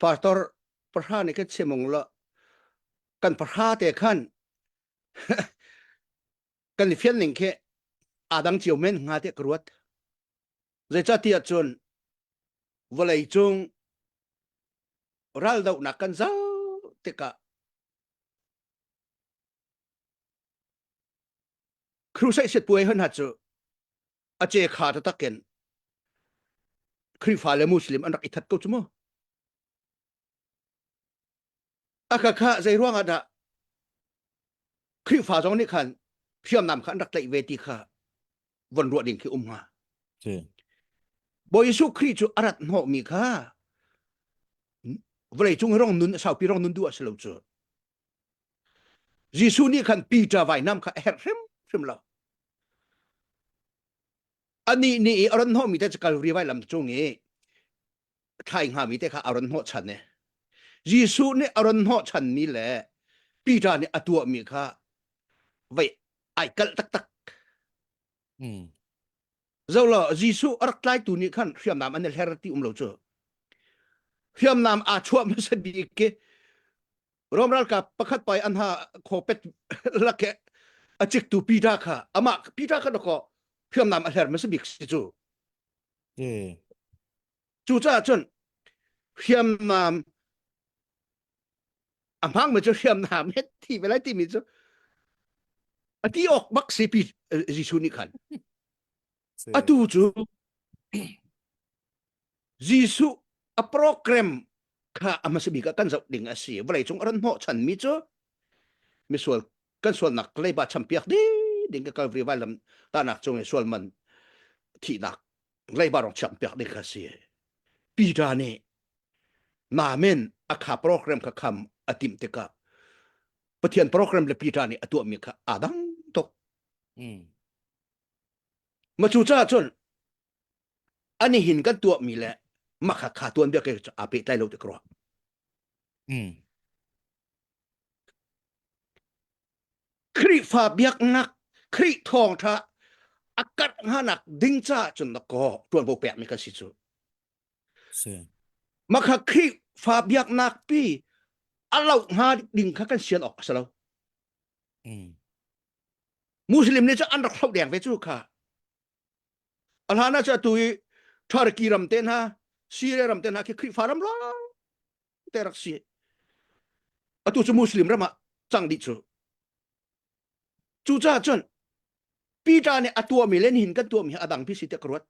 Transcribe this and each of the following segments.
pastor pahra nih kan chimung lo kan pahra te khan kan i fian ning khi adang cio men nga te ka ruat zeicatiah cun vawlei cung ral do nak kan zau tika crusade sit puai hun ha chu a ce kha ta takken Khrifa le Muslim an rak ithat ko chu mu aka kha zei ruangah dah Khrifa zong nih khan hriamnam kha an rak tlaih ve ti kha von ruah ding khi um nga Bawi Jesuh Khrih cu arat hnawh mi kha vawlei cung rong nun saupi rong nun du a si lo cu Jesuh nih khan Peter vainam kha a herh hrimhrim lo. Anih nih i a ran hnawhmi te cu Kalvari vailam cung i thlai hngami te kha a ran hnawh chan i Jesuh nih a ran hnawh chanmi le Peter nih a tuahmi kha vei ai kalh taktak. Mm. Zoh law Jesuh a rak tlaitu nih khan hriamnam an i hler ti um lo cu. Hriamnam aa chuah hmasa bik ki Rom ralkap pakhat pai an ha khopet lake a ciktu Peter kha amah Peter kha dako hriamnam a hler hmasa bik si cu. Mm. Cucaah cun hriamnam a hmangmi cu hriamnam he thi ve lai timi cu a ti awk bak si pi Jesuh nih khan atu cu Jesuh a program kha a hmasa bik ah kan zoh ding a si vawleicung a ran hnawhchanmi cu misual kan sualnak leiba champiak ding ding ka Calvary vai lam tanak cung i sual man thihnak leiba rong chak piak ding kha si Peter nih namen akha program kha kham atim tika pathian program le Peter nih atuah mi kha adang tok ma chu cha chun ani hin kan tuah mi le ma kha kha tuan bia ke ape tlai lo ti kro Khrihfa biaknak, Khrih thawngṭha a karh nganak ding caah cun na kaw ṭuanvo pekmi kan si cu. Makha Khrihfa biaknak pi a lau hnga ding kha kan sian awk a si lo. Muslim nih cu an rak hloh deng ve cu kha. A hlan ah cu atu i Turkey ram te hna, Syria ram te hna khi Khrihfa ram lawng te rak si atu cu muslim ram ah cang dih cu cu ca cun Peter nih a tuahmi le nihin kan tuahmi a dang pi si te ka ruat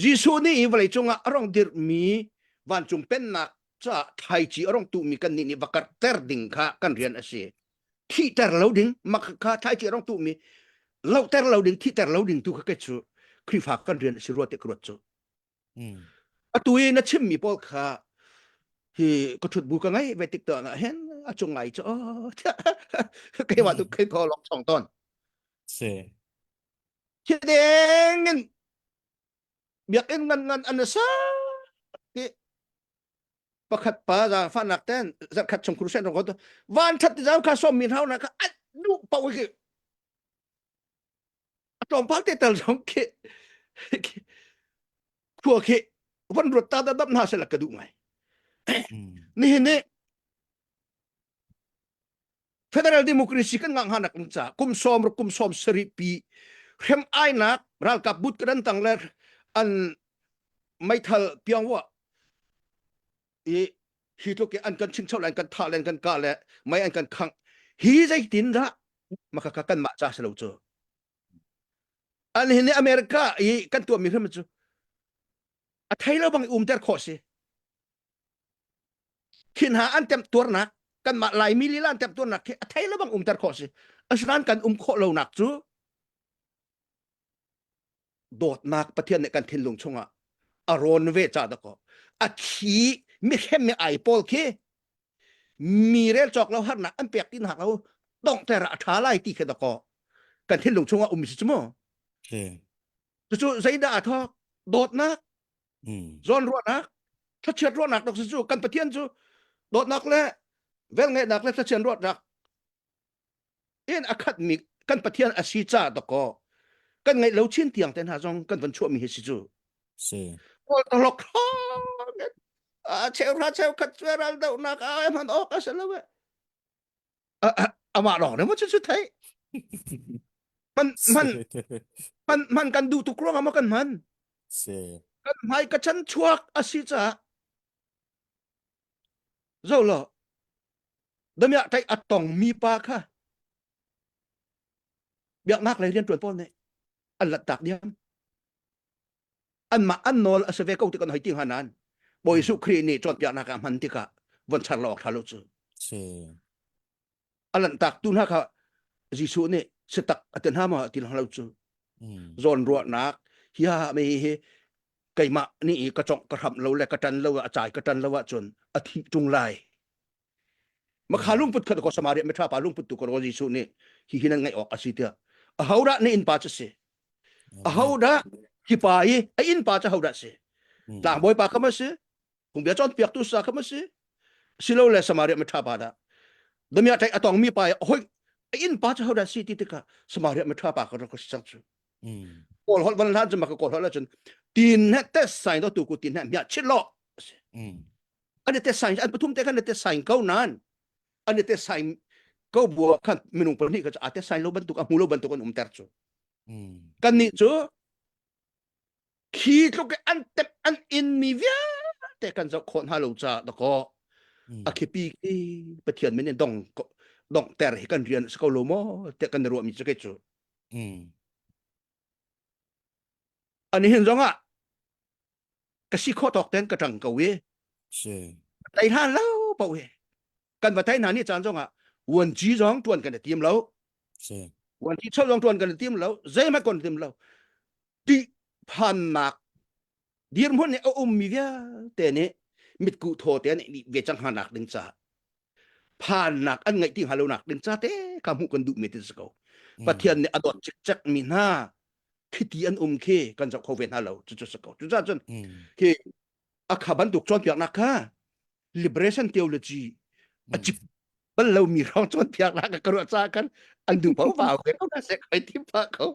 Jesuh nih hi vawlei cungah a rong dirhmi vancung pennak caah thaici a rong tuhmi kan nih nih va karter ding kha kan rian a si thihter lo ding mak kha thaici a rong tuhmi lohter lo ding thihter lo ding tu kha ke cu Khrihfa kan rian a si ruat te ka ruat cu Atu i na chimmi pawl kha hi ka ṭhut bu ka ngei ve tik tuan ah hin a cung ai cu keimah tu kai tho long chong ton si thideng in biakin ngan ngan an sa ti pakhat pa za fanak ten zat khat chung khursen rong ko to van that ti zau ka som min hau na ka at du pa wi tlawmpal te tal zong khi khua khi van ruat ta dam hna se la ka duh ngai nihin ni federal democracy kan ngah hanak in ca kum som ru kum som sari pi hrem ainak ralkap but kadan tang le an meithal piang wa i hi tluk i an kan chingcho le an kan thah le an kan kah le mei an kan khangh hi zeitin dah maka ka kan mah ca si lo cu an hin america i kan tuahmi hrim cu a thei lo bang i um ter khawh si khin ha an tem tuarnak kan mah lai mi lila an tem tuarnak khi a thei lo bang um ter khawh si asinain kan um khawh lo nak cu dawtnak pathian nih kan thinlung chungah a rawn ve cha dako a thi mi khem mi ai pawl khi mi rel chok lo harnak an pek tin hak lo dong ter a tha lai ti khe dako kan thinlung chungah um si chumo tu chu zaida a thok dawtnak zon ruanak thlachiat ruanak dok su kan pathian chu dawtnak le vel ngenak le thlachian ruat rak en a khatmi kan pathian a si ca dakaw kan ngaih lo chin tiang te hna zong kan von chuahmi hi si cu si kawl to lok a cheu ra cheu khat cu ral do nak a man ok a se lo e ama rong ne mo chu chu thai man man man man kan du tu krong ama kan man si kan mai ka chan chuak a si ca Zoh law, damiah tei a tongmi pa kha biaknak lei rianṭuan pawl nih an lanhtak diam. Anmah an nawl a si ve ko ti kan hoi ti hnga nan. Bawi Jesuh Khrih nih cawnpiaknak ah hman tikah von char law khla lo cu. Si. a lanhtaktu hna kha Jesuh nih setak a ti hna ma ti lo cu zawn ruahnak hiha me hi keimah ni i ka congh ka hram lo le ka tan lo a cai ka tan lo ahcun a thi tung lai makha lungput khat ko samaria metra pa lungput tu ko Jesuh nih hi hi nan ngai awk a si tiah a hodah ne in pa cu si a hodah ki pa i a in pa cu hodah si tlangbawi pa kama si Phungbia cawnpiaktu sa kha ma si silo le Samaria ma ṭha pa dah damiah ṭek atong mi pa hoi a inn pa cu hodah si ti tikah Samaria ma ṭha pa ka rak ka si cang cu Paul holh van hlan cu maka kawl holh cun tin he te sign do tu ku tin he mia chit lo an te sign an pathum te kan te sign ko nan an te sign ko bua khan minung pahnih ka a te sign lo bantuk a hmu lo bantuk an um ter cu kan ni cu Khi tluk i an tep an inmi vialte kan zoh khawh hna lo caah dakaw a khipi khi Pathian min in dong dong ter hi kan rian si ko lo maw tiah kan i ruahmi cu kei cu an hin zong ah ka si khawh tawk ten ka ṭang ko i tei hlan lo paoh hi kan va thai hna nih caan zongah vuanci zong tuan kan i tim lo vuanci chawt zong tuan kan i tim lo zeihmanh kon tim lo ti phannak dirhmun nih a ummi vialte nih mit ku thaw te nih ve cang hanak ding caah phannak an ngaih ti hnga lonak ding ca te ka hmuh kan duh mi ti si ko hmm. pathian nih a dot cik cek mi hna khiti an um khi kan zoh kho ve hna lo cu cu si ko cu cah cun khi hmm. a kha bantuk chuan piak nak kha liberation theology a chip bal lo mi rong chuan phiak la ka ruah cha kan an du pau ba we ko na se kai tim pa ko